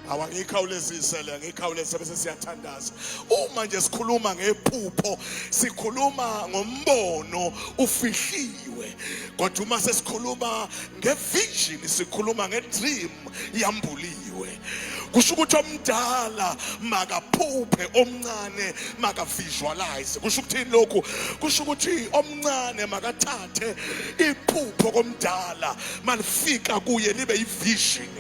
awangikhawulezise le ngikhawuleze bese siyathandaza uma nje sikhuluma ngephupho sikhuluma ngombono ufihliwe kodwa uma sesikhuluma ngevision sikhuluma ngedream yambuliwe kusho ukuthi omdala makaphuphe omncane makavisualize kusho ukuthini lokhu kusho ukuthi omncane makathathe iphupho komdala malifika kuye libe yivision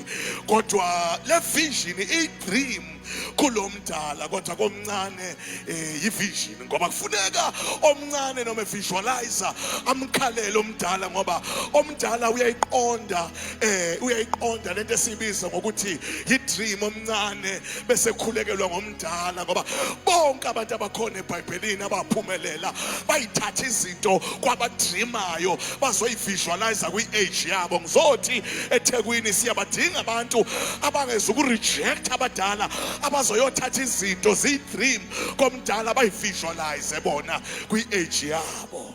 kodwa le vision i-dream kulo mdala kodwa komncane um eh, yivision ngoba kufuneka omncane noma evisualize amkhalele omdala ngoba omdala uyayiqonda um uyayiqonda le nto esiyibiza ngokuthi yi-dream omncane bese khulekelwa mdala ngoba bonke abantu abakhona ebhayibhelini abaphumelela bayithatha izinto kwabadrimayo bazoyivisualize kwi-age yabo ngizothi ethekwini siyabadinga abantu abangeza ukurejecta abadala abazoyothatha izinto ziyi-dream komdala bayivisualize bona kwi-age yabo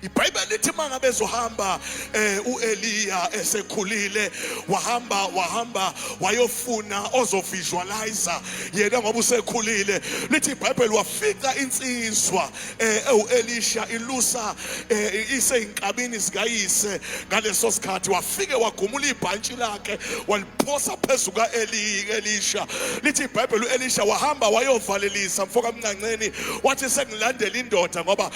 ibhayibheli lithi uma ngabe ezohamba um eh, u-eliya esekhulile wahamba wahamba wayofuna ozovisualiza yena ngoba usekhulile lithi ibhayibheli wafica insizwa um eh, ewu-elisha ilusa um eh, iseyinkabini zikayise ngaleso sikhathi wafike wagumula ibhantshi lakhe waliphosa phezu ka-elisha lithi ibhayibheli u-elisha wahamba wayovalelisa mfokamncanceni wathi sengilandela indoda ngoba